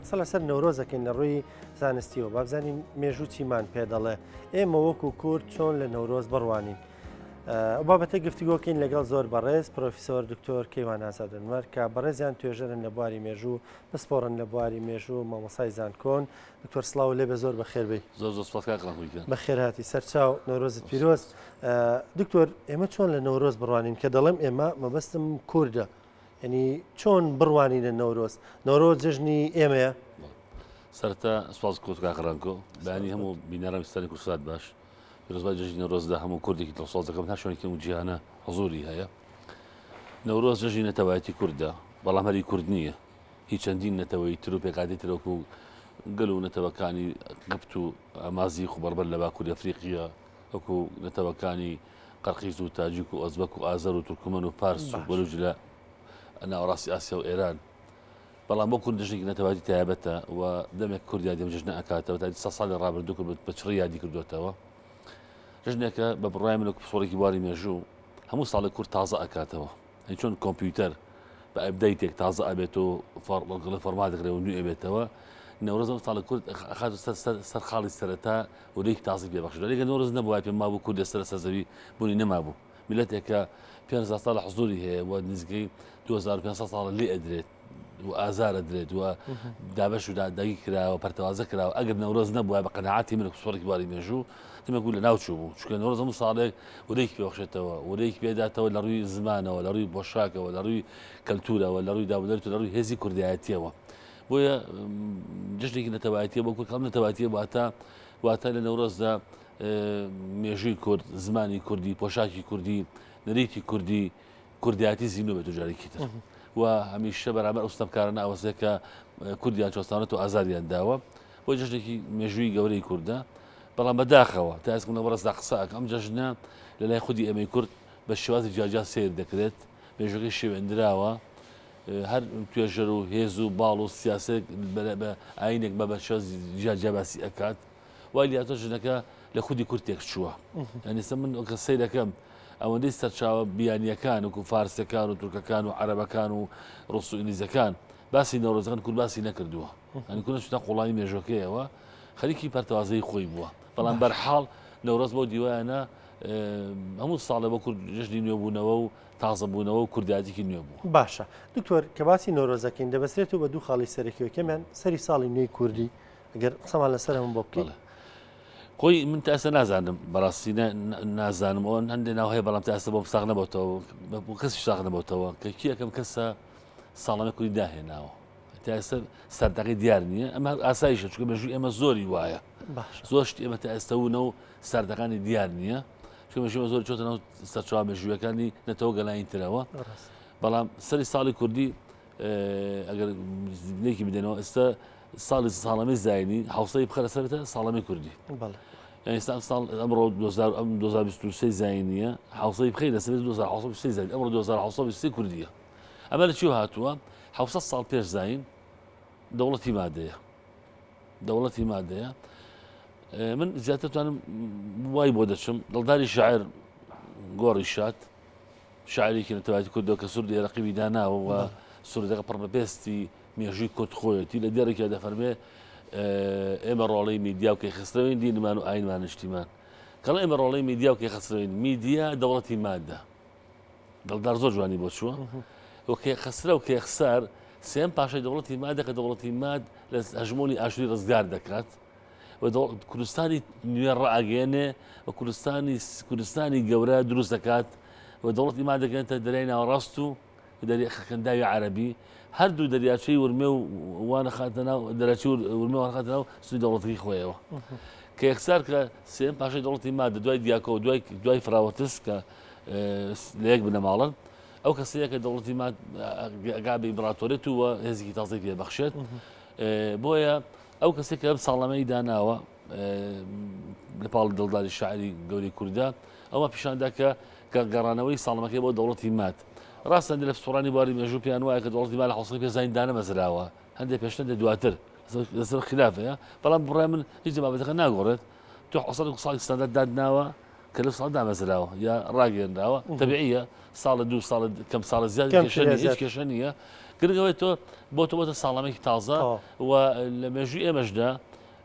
قسە لەسەر نەورۆز دەکەین لە ڕووی زانستیەوە بابزانین مێژوو چیمان پێ دەڵێ ئێمە وەکو کورد چۆن لە نەورۆز بڕوانین بابەتە گفتوگۆکەین لەگەڵ زۆر بەڕێز پرۆفیسۆر دکتۆر کەیوان ئازادنمەر کە بەڕێزیان توێژەرن لە بواری مێژوو پسپۆڕن لە بواری مێژوو مامۆسای زانکۆن دکتۆر سلااو لێ بە زۆر بەخێربی زۆر بەخێراتی سەرچاو نەورۆزت پیرۆست دکتۆر ئێمە چۆن لە نەورۆز بڕوانین کە دەڵێم ئێمە مەبەستم کووردە یعنی چۆن بڕوانینە نەورۆز نەورۆ جژنی ئێمەیە سەرتا سواز کۆت کاخڕانکۆ بەانی هەموو بینەرم ستانی کوردسات باش پیرۆزبای جژنی نەورۆزدا هەموو کوردێکی دڵسۆزەکەم هەر شوێنێکی و جیهانە حزوری هەیە نەورۆز جژی نەتەوایەتی کوردە بەڵام هەری کورد نییە هیچ چەندین نەتەوەی تر و پێکاتی ترۆک و گەل و نەتەوەکانی گپت و ئامازی خوبەربەر لە باکووری ئەفریقیە وەکو نەتەوەکانی قەرقیز و تاجیک و ئۆزبەک و ئازەر و تورکمەن و پارس و بەلوج لە ناوەڕاستی ئاسیا و ئێران بەڵام بۆ کورد جژنێکی نەتەواتی تایبەتە و دەمێک کوردیا دێم جژنە ئەکاتەوە تا سە ساڵی ڕابردوو کرد بە چڕی یادی کردوێتەوە جژنێکە بە بڕای منە پسۆڕێکی باری مێژوو هەموو ساڵی کورد تازە ئەکاتەوە ئەی چۆن کۆمپیوتەر بە ئەبدەیتێک تازە ئەبێت و فەرڵگڵە فەرما دەکرێت و نوێ بێتەوە نەورز ئەو ساڵە کورد خات سەر خاڵی سەرەتا و لێک تازی پێ بەخش لەگە نەورز نەبووە پێ مابوو کورد لەسەر سەزەوی بوونی نەمابوو میلەتێکە 500 ساڵە حزوری هەیە و نزگەی 2500 ساڵە لێ ئەدرێت و ئازارە درێت وە دابش و دادەگی کراوە پەرتەوازە کراوە ئەگەر نەورۆز نەبووە بە قەنەعاتی من سوڕێک باری مێژوو ئمە گوو لە ناوچوو بوو چکە نەورۆز هەموو ساڵێک ورێک پێخشێتەوە ورێک پێداتەوە لە ڕووی زمانەوە لە ڕووی بۆشاکەوە لە ڕووی کەلتورەوە لە ڕووی داودەرت لە ڕووی هێزی کوردایەتیەوە بۆیە جشتێکی نەتەوایەتە بۆ کورد کەم نەتەواتیە واتە واتە لە نەورۆزدا مێژووی کورد زمانی کوردی پۆشاکی کوردی نەریتی کوردی کوردایەتی زیندوو بێت و جارێکی تر و هەمیشە بەرامەر ئەو ستەمکارانە ئەوەسێ کە کوردیان چۆستانەت و ئازاریان داوە بۆ جژنێکی مێژووی گەورەی کووردە بەڵام بەداخەوە تا ئەسکم لە بەڕستا قسەک ئەم جژنە لە لای خودی ئەمەی کورد بە شێوازی جاجا سیر دەکرێت مێژەکەی شێوێندراوە هەر توێژەر و هێز و باڵ و سیاسێک بە ئاینێک بە بە شێوازی جیاجیاباسی ئەکات وای لاتۆ ژنەکە لە خودی کورد تێکچووە یانیسە من ئۆکە سیرەکەم ئەوەندەی سەرچاوە بیانیەکان وکو فارسەکان و تورکەکان و عربەکان و ڕوس و ئینگلیزەکان باسی نەورۆزەکان کورد باسی نەکردووە ئەنی کورە شتە قوڵایی مێژۆکەیەوە خەریکی پەرتەوازەی خۆی بووە بەڵام بەرحاڵ نەورۆز بۆ دیوایانە هەموو ساڵێ بۆ کورد ژنی نوێبوونەوە و تازەبوونەوە و کوردایەتێکی نوێ بوو باشە دکتۆر کە باسی نۆرۆزەکەین دەبسرێت و بە دوو خاڵی سەرەکیەکەمیان سەری ساڵی نوێی کوردی گەر قسەمان لەسەر هەم بۆ بکەڵ خۆی من تا ئێستا نازانم بەڕاستی نازانم ئەوەن هەندێ ناو هەیە بەڵام تا ئێستا بۆم ساغ نەبەتەوە بۆ کەسی ساغ نەبەتەوە کە کیەکەم کەسە ساڵانە کوری داهێناوە تا ئێستا سەردەقی دیار نییە ئەمە ئاساییشە چکە مێژوی ئێمە زۆری وایە زۆر شت ئێمە تا ئێستاونە و ساردەکانی دیار نییە چمەژمە زۆر چۆتە ناو سەرچوە مێژویەکانی نەتەوە گەلانی ترەوە بەڵام سەری ساڵی کوردی ئەگەر لێکی بدەنەوە ئێستا ساڵی ساڵەمەی زایانی حوسەی بخەرە سەرتە ساڵەمەی کوردی ئێستا ساڵ ئەمڕۆ 2023 زایینە حوسەی بخی لە سەر 2023 زای ئەمڕۆ 2023 کوردیە ئەمە لە چی هاتووە حوسە ساڵ پێش زین دەوڵەتی مادەیە دەوڵەتی مادەیە من زیاترتوانم وای بۆ دەچم دڵداری شاعر گۆڕی شات شاعیرێکی نەتەوایەتی کوردەوە کە سروودی ئێرەقیبی داناوە و سروودەکە پڕ بە پێستی مێژووی کورد خۆیەتی لە دێڕێکیا دەفەرمێ ئێمە ڕۆڵەی میدیا و کەیخسترەوەین دینمان و ئاینمان نیشتیمان کەڵ ئێمە ڕۆڵەی میدیا و کەیخسترەوەین میدیا دەوڵەتی مادە دڵدار زۆر جوانی بۆ چووە و کێ خسرە و کێخسار سێم پاشای دەوڵەتی مادە کە دەوڵەتی ماد لە هەژمۆنی ئاشوری ڕزگار دەکات و کوردستانی نوێ ڕاگەێنێ و کوردستانی کوردستانی گەورە دروست دەکات و دەوڵەت ئیمان دەکەێتە دەریای ناوەڕاست و دەری خەکەنداوی عربی هەردوو دەریاچەی ورمێ و وانە خاتە ناو دەراچی ورمێ وانخاتە ناو سوی دەوڵەتەکەی خۆیەوە کە یەکسار کە سێم پاشای دەوڵەتی مادە دوای دیاکۆ و دوای دوای فراوەتس کە لە یەک بنەماڵن ئەو کەسەیە کە دەوڵەتی ماد گابی ئیمپراتۆرێت و هێزیکی تازەی پێبەخشێت بۆیە ئەو کەسەی کە ئەم ساڵنامەی داناوە لەپاڵ دڵداری شاعری گەوری کووردا ئەوە پیشاندا کە کە گەڕانەوەی ساڵمەکەی بۆ دەوڵەتی مات ڕاستە لە سوڕانی باری مێژوو پێیان وایە کە دەوڵەتی مال حوسڵی پێ زین دانەمەزراوە هەندێک پێشتە دواتر لەسەر خلافەیە بەڵام بڕای من هیچ بابەتەکە ناگۆڕێت تۆ حەسەن ساڵی ستاندارد دادناوە کە لە ساڵ دامەزراوە یا ڕاگەێنراوە تەبعە ساڵە دو ساڵ کەم ساڵە زیاد کێشە نیە گرگەوەی تۆ بۆ تۆ بۆتە ساڵەمەێکی تازە و لە مێژوی ئێمەشدا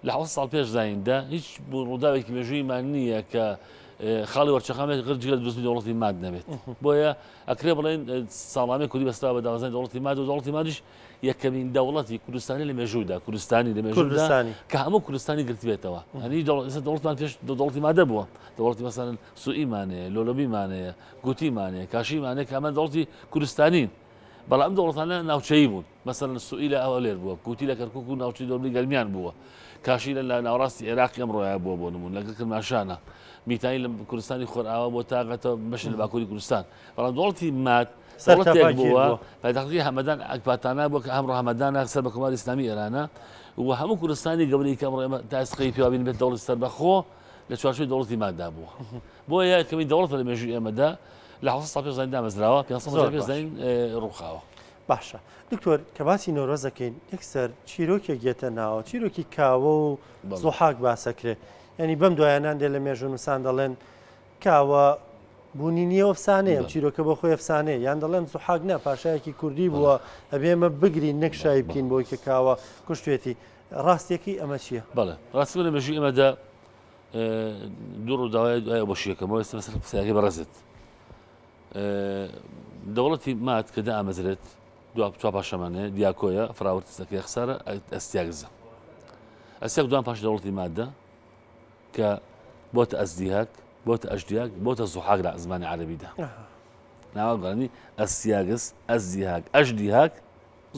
لە حوز ساڵ پێش زاییندا هیچ ڕووداوێکی مێژوویمان نییە کە خاڵی وەرچەخامێت غرجگە دزنی دەوڵەتی ماد نەبێت بۆیە ئەکرێ بڵێن ساڵانێک کوردی بەستا بە داوازای دەوڵەتی ماد و دەوڵەتی مادیش یەکەمین دەوڵەتی کوردستانی لە مێژوودا کوردستانی لە مێژوودا کە هەموو کوردستانی گرتبێتەوە هەنی دەوڵەتمان پێش دەوڵەتی مادە بووە دەوڵەتی مەسەن سوئیمانەیە لۆلۆبیمانەیە گوتیمانەیە کاشیمانەیە کە ئەمە دەوڵەتی کوردستانین بەڵام ئەم دەوڵەتانە ناوچەیی بوون مەسەن سوئی لە ئەوە لێر بووە گوتی لە کەرکک و ناوچی دۆرمی گەرمیان بووە کاشی لە ناوڕاستی عێراقی ئەم ڕۆیا بووە بۆ نمون لەگەڵ کرماشانە میتانی لە کوردستانی خۆرئاوا بۆ تاگەتە بەش لە باکووری کوردستان بەڵام دۆڵتی مات دەوڵەتێک بووە پایتەختی هەمەدان ئەکباتانە بۆ کە هەمڕۆ هەمەدانە سەر بە کۆماری ئسلامی ئێرانە و هەموو کوردستانی گەورەی کە ئەمڕێمە تاسقی پیاوین بێت دەوڵی سەر بەخۆ لە چوارچوی دەوڵەتی مادا بووە بۆ یا کەمی دەوڵەت لە مێژوی ئێمەدا لە حوسە سا پێزانین دامەزراوە پێ پێزانین ڕووخاوە. باشە دکتۆر کە باسی نۆرۆز دەکەین یەکسەر چیرۆکێک گێتە ناوە چیرۆکی کاوە و زۆحاک باسەکرێ ینی بەم دوایانان دێ لە مێژونوسان دەڵێن کاوە بوونی نییە و ئەفسانەیە، ئەم چیرۆکە بۆ خۆی ئەفسانەیە، یان دەڵێن زوحاک نا پاشایەکی کوردی بووە، ئەبێ ئێمە بگرین نەک شای بکەین بۆی کە کاوە کوشتوێتی، ڕاستییەکەی ئەمە چییە؟ بەڵێ، ڕاستی من لە مێژووی ئێمەدا دوو ڕووداوە دوای ئەوەشی یەکەمەوە ئێستا بەسەر قسەکەی بەڕێزت دەوڵەتی مات کە دامەزرێت دو پچا پاشەمانەیە دیاکۆیە فراوەتسەکەی خسارە ئەستیاگزە ئەسێک دوان پاش دەوڵەتی مادە کە بۆتە ئەزدیهاک، بۆتە ئەژدیاک، بۆتە زوحاک لە زمانی عەرەبیدا. ناوە گەڕانی ئەسیاگس، ئەزدیهاک، ئەژدیهاک،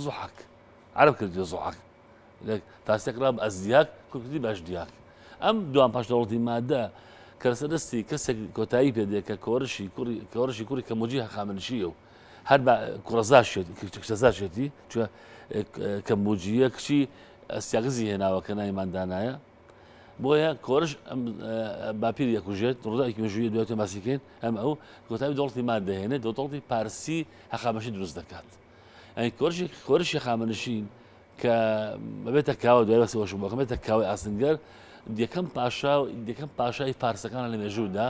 زوحاک. عەرەب کردوویە زوحاک. تاسێک ڕا بە ئەزدیهاک کوردی بە ئەژدیهاک. ئەم دوان پاش دەوڵەتی مادە کە لەسەر دەستی کەسێک کۆتایی پێ دێ کە کۆرشی کوڕی کۆرشی کوڕی کە موجی هەخامنشیە و هەر بە کوڕەزاشێتی کچەزاشێتی چوە کە موجیە کچی ئەستیاگزی هێناوە کە نایماندانایە بۆیە کۆرش باپیر یەکوژێت ڕداکی مێژووی دواتێ باسیکەین ئەم ئەو کۆتایی دەوڵی مان دەهێنێت دەوڵی پارسی هەقامەشی دروست دەکات ئەین کۆرشی کۆرشی خامەنشین کە بەبێتە کاوە دوای بەسی وەش بۆکە بێتە کاوی ئاسنگەر یەکەم پاشا و یەکەم پاشای پارسەکان لە مێژوودا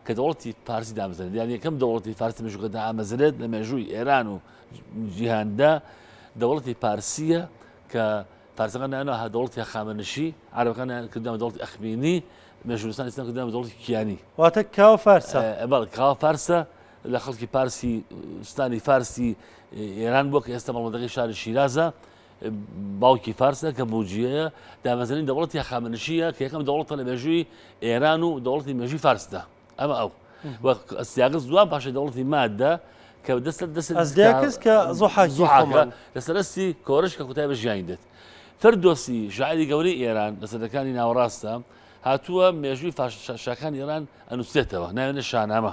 کە دەوڵەتی پارسی دامزن یان یەکەم دەوڵەتی فارسی مژوکەدا ئامەزرێت لە مێژووی ئێران و جیهاندا دەوڵەتی پارسیە کە فارسەکان دایاننا هە دەوڵەتی هەخامەنشی، عەرەبەکان دایان کردیان بە دەوڵەتی ئەخمینی، مێژوونووسانی ئیسلام کردیان بە دەوڵەتی کیانی. واتە کاوە فارسە. بەڵێ کاوە فارسە، لە خەڵکی پارسی سوتانی فارسی ئێران بووە کە ئێستا مەڵبەندەکەی شاری شیرازە، باوکی فارسە کە بوجیەیە، دامەزرێنی دەوڵەتی هەخامەنشییە کە یەکەم دەوڵەتە لە مێژووی ئێران و دەوڵەتی مێژووی فارسدا. ئەمە ئەو وەک ئەسیاگز دوان پاشە دەوڵەتی مادە کە دەست دەست ئەزدیاکەس کە زۆحاکیحاکە لەسەرستی کۆرش کە کوتای بە ژیانی دێت فردۆسی ژعری گەورەی ئێران لە سەدەکانی ناوەڕاستە هاتووە مێژووی شاکان ئێران ئەنووسێتەوە ناوێنە شانامە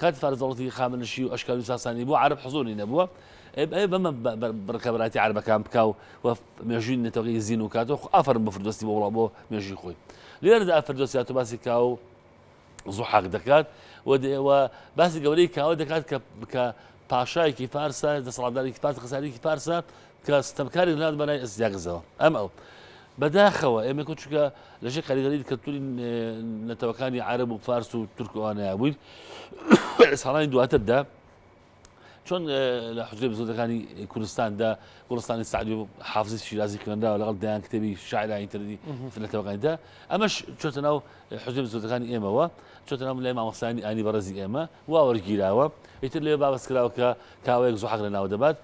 کاتی فارس دەوڵەتی هەخامەنشی و ئەشکانی و ساسانی بوو عەرەب حزوری نەبووە ئەی بەمە بڕکەبراتی عربەکان بکە و و مێژووی نەتەوەی زین و کاتۆ ئافرم بە فردۆستی بۆ وڵا بۆ مێژوی خۆی لێرەدا ئەفردۆسیات و باسی کا و زوحاق دەکات و دەوە باسی گەورەی کاوە دەکات کە بکە پاشایەکی فارسە دەسەڵاتدارێکی فارس خسارێکی فارسە کە ستەمکاری نات بەلای ئەسیاگزەوە ئەم ئەو بە داخەوە ئێمە کە چونکە لە ژێ کاریگەری کەلتوری نەتەوەکانی عرب و فارس و تورک و ئەوانەیە بووین لە ساڵانی دواتردا چۆن لە حجرێ بزۆدەکانی کوردستاندا گوڵستانی سعدی و حافزی شیرازی خوێنراوە لەگەڵ دەیان کتێبی شاعرانی تردی فلەتەوەکانیدا ئەمەش چۆتە ناو حجرێ بزۆدەکانی ئێمەوە چۆتە ناو لای مامەسانی ئانی بەڕێزی ئێمە واوەرگیراوە ئیتر لێ بابەسکراوە کە کاوەیەک زوحق لە ناو دەبات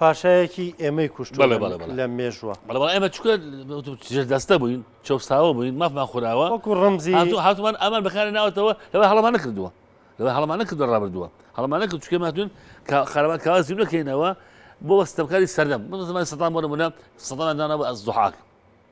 پاشایەکی ئێمەی کوشتوە بەڵێ بەڵێ بەڵێ. لە مێژوە. بەڵێ بەڵێ ئێمە چونکە ژێر دەستە بووین چەوساوە بووین مافمان خوراوە وەکو ڕەمزی هاتو هاتومان ئامان بەکاری ناوەتەوە لەوە هەڵەمان نەکردووە لەوە هەڵەمان نەکردووە ڕابردووە هەڵەمان نەکرد چونکە ئێمە هاتووین کە قارەمان کاوا زیو نەکەینەوە بۆ ستەمکاری سەردەم بۆ زمانی سەدام بۆ نمونە سەدامیان دانابوو ئەز زوحاک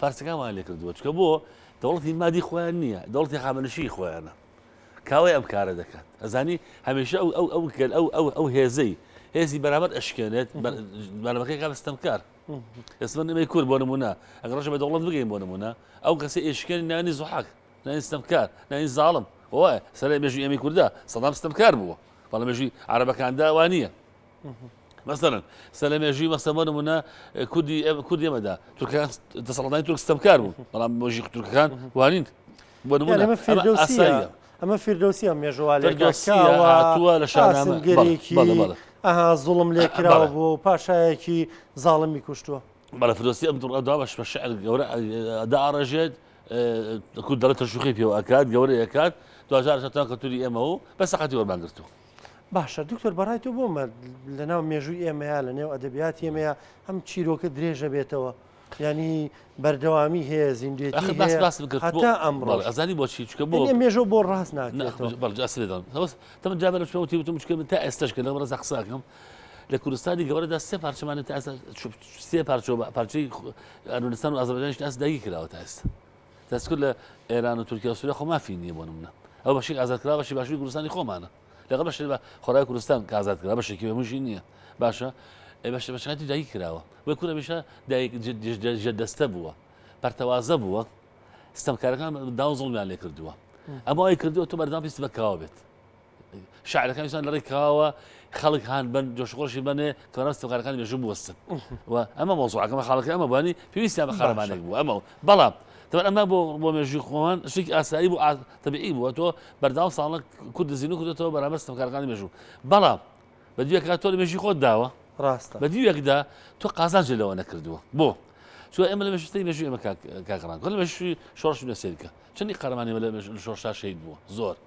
فارسەکانمان لێ کردووە چکە بۆ دەوڵەتی مادی خۆیان نییە دەوڵەتی خامەنشی خۆیانە کاوەی ئەم کارە دەکات ئەزانی هەمیشە ئەو ئەو ئەو گەل ئەو ئەو ئەو هێزەی هێزی بەرامەر ئەشکێنێت بەرەمەکەی کا بەستەمکار ئێسمە نمەی کورد بۆ نمونە ئەگە ڕژە بە دەوڵەت بگەین بۆ نمونە ئەو کەسی ئێشکێن نانی زحاک نانی ستەمکار نانی زاڵم وایە سەر مێژوی ئەمی کووردا سەدام ستەمکار بووە بەڵام مێژوی عربەکاندا وانە مەسەلەن سەرلە مێژووی مەسەن بۆ نمونە کوردی کوردی ئێمەدا تورکان دەسەڵاتدانی تورک ستەمکار بوو بەڵام مۆژی تورکەکان وانین بۆ نمونە ئەمە فیردەوسیە ئەمە فیردەوسیە مێژووا لێکەوە لە شانامەگەرێکی ئەها زوڵم لێکراوە بۆ و پاشایەکی زاڵمی کوشتووە بەڵە فردۆسی ئەم دوڕدا بەش بە شعر گەورە داڕێژێت کورد دەڵێت تەشوخی پێوە ئەکات گەورە ئەکات دوجار شتان کەتوری ئێمە و بە سەقەتی وەرمانگرتووە باشە دکتۆر بەڕای تۆ بۆ مەرد لەناو مێژووی ئێمەیە لە نێو ئەدەبیات ئێمەیە ئەم چیرۆکە درێژە بێتەوە ینی بەردەوامی هەیە زیندێتی باس باس بکرد هەتا ئەمڕۆ بەڵێ، ئەزانی بۆچی چکە بۆ یعنی مێژۆ بۆ ڕاست ناکرێتەوە بەڵجا سرێدان هەوس تەمە جا بەرە شوێ وتیوتم چکە من تا ئێستش کە لەم ڕزە قساکەم لە کوردستانی گەورەدا سێ پارچەمانە تا ئێستا چ- سێ پارچۆ پارچەی ئەرمنستان و ئازەربایجانیش تا ئێستا داگیر کراوە تا ئێستا دەستکرد لە ئێران و تورکیا سووریا خۆ مافی نییە بۆ منە ئەو بەشی ئازادکرا بەشی باشووری کوردستانی خۆمانە لەگە بەش بە خۆرای کوردستان کازاد کرا بەشێکی بەمژی نییە باشە بەش بەشاتی دایک کراوە وە کورە بشە دایک جە دەستە بووە پەرتەوازە بووە ستەمکارەکان داوزڵمیان لێ کردووە ئەمە ئەوی کردووە تۆ بەردام پیست بەکاوە بێت شعرەکان سان لەڕێی کاوە خەڵک هاان بن جۆشخۆشی بنێ کەڕاست تۆکارەکانی مێژوو بوەستن و ئەمە مۆزوعەکەمە خاڵەکە ئەمە بانی پێویستیان بە خەرمانێک بوو ئەمە بەڵام دەبەر ئەمە بۆ بۆ مێژوی خۆمان شتێک ئاسایی بوو تەبیعی بووە تۆ بەرداوام ساڵە کورد زیین و کردێتەوە بەرامەر تۆکارەکانی مێژوو بەڵام بە دوێکات تۆ لە مێژی خۆت داوە ڕاستە بە دیوێکدا تۆ قازانج لەوە نەکردووە بۆ چۆ ئێمە لە مەشستی مێژوی ئەمە کاکڕان کە لە مەشوی شۆش لە سێرکە چنی قەرمانی لە شۆشتا شەید بووە زۆر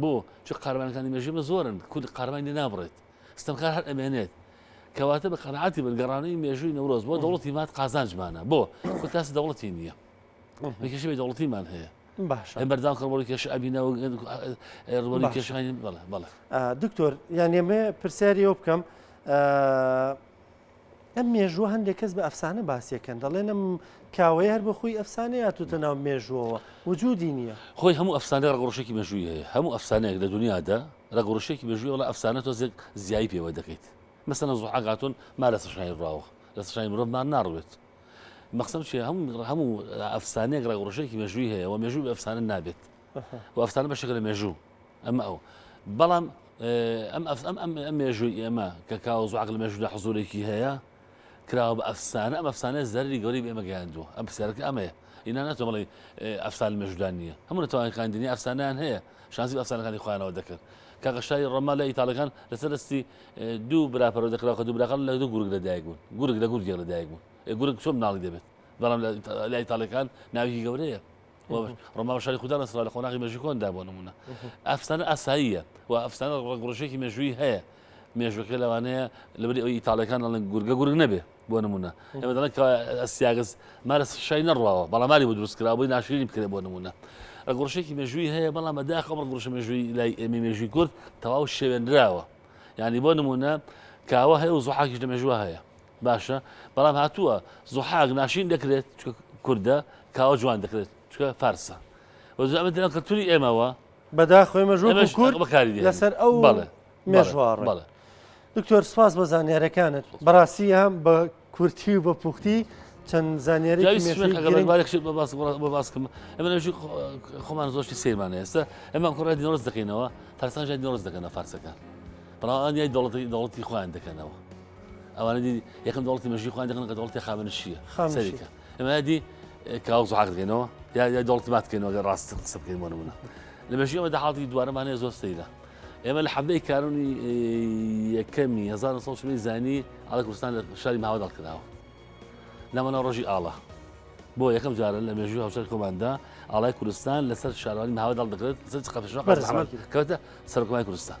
بۆ؟ چون قارەمانەکانی مێژوومە زۆرن، کورد قارەمانی لێ نابڕێت، ستەمکار هەر ئەمێنێت. کەواتە بە قەناعەتی بن، گەڕانەوەی مێژووی نەورۆز بۆ دەوڵەتی ماد قازانجمانە. بۆ؟ کورد تاسی دەوڵەتی نییە. بە کێشەی دەوڵەتیمان هەیە. باش بەرداو کە ڕۆڵی کێش ئەبینەوە ڕۆڵی کێشانی بەڵێ بەڵێ دکتۆر یان ئێمە پرسیاری ئەو بکەم ئەم مێژووە هەندێک کەس بە ئەفسانە باسیەکەن دەڵێن ئەم کاوەیە هەر بەخۆی ئەفسانە یاتوتە ناو مێژووەوە وجودی نییە خۆی هەموو ئەفسانە ڕەگڕشێکی مێژووی هەیە هەموو ئەفسانەیەک لە دنیادا ڕەگڕشێکی مێژووی وڵە ئەفسانە تۆزێک زیایی پێوە دەکەیت مەسەنە زوحاگاتون ما لە سەشانی ڕاوە لە سەشانی مرۆڤمان ناڕوێت مەخسم چی هەموو هەموو ئەفسانەیەک ڕەگڕشێکی مێژووی هەیە و مێژووی ئەفسانە نابێت و ئەفسانە بەشێکە لە مێژوو ئەمە ئەو بەڵام ئەم ئەف ئەم ئەم ئەم مێژووی ئێمە کە کاوە زوعق لە مێژوودا حزورێکی هەیە کراوە بە ئەفسانە ئەم ئەفسانە زەری گەوری بێمە گەیاندووە ئەم پرسیارەکە ئەمەیە ئینا ناتۆ بڵێ ئەفسان لە مێژودان نییە هەموو نەتوانانی خاندنی ئەفسانیان هەیە شانسی ئەفسانەکانی خوانەوە دەکرد کاگەشاری ڕۆما لە ئیتالەکان لەسەر دەستی دوو براپەرەوە دەکراوە کە دوو براقل لە دوو گورگ لەدایک بوون گورگ لە گورگێک لەدایک بوون گورگ چۆن ناڵی دەبێت بەڵام لە ئیتالەکان ناوی گەورەیە ڕۆما شاری خوددا لە سرا لە قۆناغی مەژیکۆندا بۆ نمونە ئەفسانە ئاساییە و ئەفسانە ڕگڕژێکی مێژووی هەیە مێژوەکە لەوانەیە لەبری ئەو ئیتالەکان ئەڵێن گورگە گورگ نەبێ بۆ نمونە ئەمە دەڵێن سیاگەز مارە شای نەڕواوە بەڵاماری بۆ دروستکرا بۆی ناشرینی بکرێ بۆ نمونە ڕگڕشێکی مێژووی هەیە بەڵام بەداخ ئەم ڕگڕشە مێژووی لای ئێمە مێژوی کورد تەواو شێوێنراوە یعنی بۆ نمونە کاوە هەیە و زوحاکیش لە مێژوە هەیە باشە بەڵام هاتووە زحاک ناشین دەکرێت کوردە کاوە جوان دەکرێت چکە فارسە وەزامەتە کەلتوری ئێمەوە بەداخۆێمەژۆکاری لەسەر ئەو بەڵێ مێژوار بەڵێ دکتۆر سپاس بە زانیارەکانت بەڕاستی هەم بە کورتی و بە پوختی چەند زانیاری باسکم ئەمە خۆمان زۆشتی سیرمانە ئێستا ئەمە کوڕای دینۆز دەکەینەوە فەرسان ژای دینۆز دەکەنە فارسەکان بەڵام ئەنیای دەڵەتی دەڵەتی خۆیان دەکەنەوە ئەوانە دی یەکەم دەوڵەتی مەژی خۆیان دەکەن کە دەوڵەتی خامنشیە سەریکە ئەمە دی کاوە زحاق دەکەینەوە یا یا دەوڵەت ماتکەینەوە گە ڕاست قسە بکەین بۆ نمونە لە مەژی ئەمە دەحاڵی دوارەمانەیە زۆر سەیرە ئێمە لە حەبەی کارونی یەکەمی 1970 زانی ئاڵە کوردستان لە شاری ماوەدا کراوە لەمەە ڕۆژی ئاڵە بۆ یەکەم جارە لە مێژوی هاوچەر کۆماندا ئاڵای کوردستان لەسەر شارانی ماوەدا دەکرێت سەر قەتەشەکەوتە سەرکۆمای کوردستان